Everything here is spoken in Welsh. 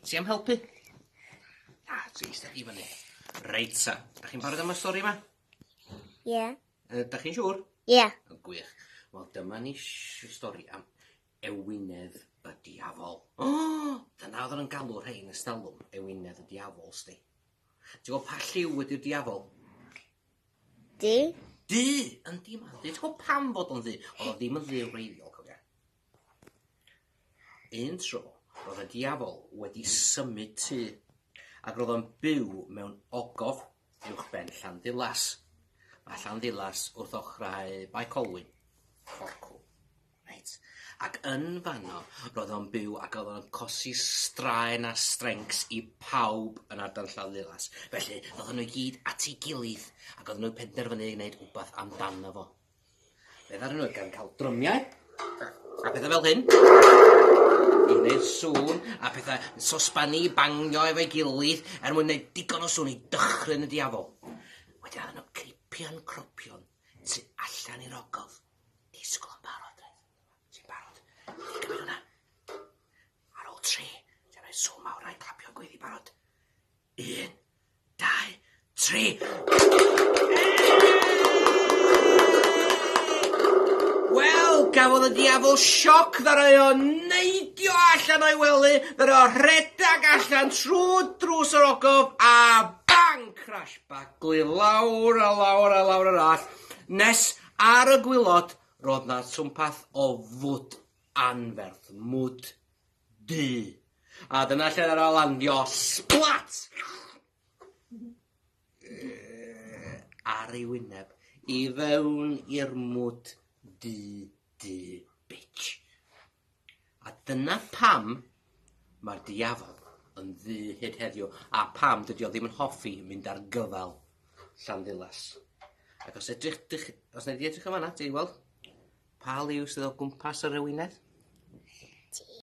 Ti am helpu? Na, ti eista i fyny. Reit sa, da chi'n barod am y stori yma? Ie. Yeah. Uh, da chi'n siŵr? Ie. Yeah. Gwych. Wel, dyma ni stori am ewinedd y diafol. O, oh, dyna oedd yn galw rhain y stalwm, ewinedd y diafol, sti. Ti'n gwybod pa lliw wedi'r diafol? Di. Di, yn di ma. Ti'n gwybod pam fod o'n ddi? Oedd o ddim yn ddi wreiddiol, cofia. Un tro, roedd y Diafol wedi symud tŷ, ac roedd o'n byw mewn ogof uwchben Llanddulas. Mae Llanddulas wrth ochrau Bae Colwyn, Fforcw. Reit. Ac yn fanno, roedd o'n byw ac oedd o'n cosi straen a strencs i pawb yn ardal Llanddulas. Felly, roedd nhw i gyd at ei gilydd, ac oedd nhw'n penderfynu gwneud rhywbeth amdano fo. Fe ddaru nhw gan cael drymiau a pethau fel hyn i wneud sŵn a pethau yn sosban i bangio efo'i gilydd er mwyn gwneud digon o sŵn i dychryn y diafol. Wedyn ar nhw cripian cropion tu allan i'r ogof. Disgwyl yn barod, dweud. Ti'n barod? Gymryd hwnna. Ar ôl tri, ti'n rhoi sŵn mawr a'i clapio gwydd i barod. Un, dau, tri. Wel, gafodd y diafol sioc ddara o neidio allan o'i wely, ddara o rhedag allan trwy drws yr ogof a bang! Crash baglu lawr a lawr a lawr yr all, nes ar y gwilod roedd na twmpath o fwd anferth, mwd du. A dyna lle nath o landio splat! Ar ei wyneb. I fewn i'r mwd du du bitch. A dyna pam mae'r diafol yn ddu hyd heddiw a pam dydy o ddim yn hoffi mynd ar gyfal Llanddulas. Ac os edrych dych, os neu di edrych yn fanna, ti weld pa liw sydd o gwmpas yr ewinedd? Ti.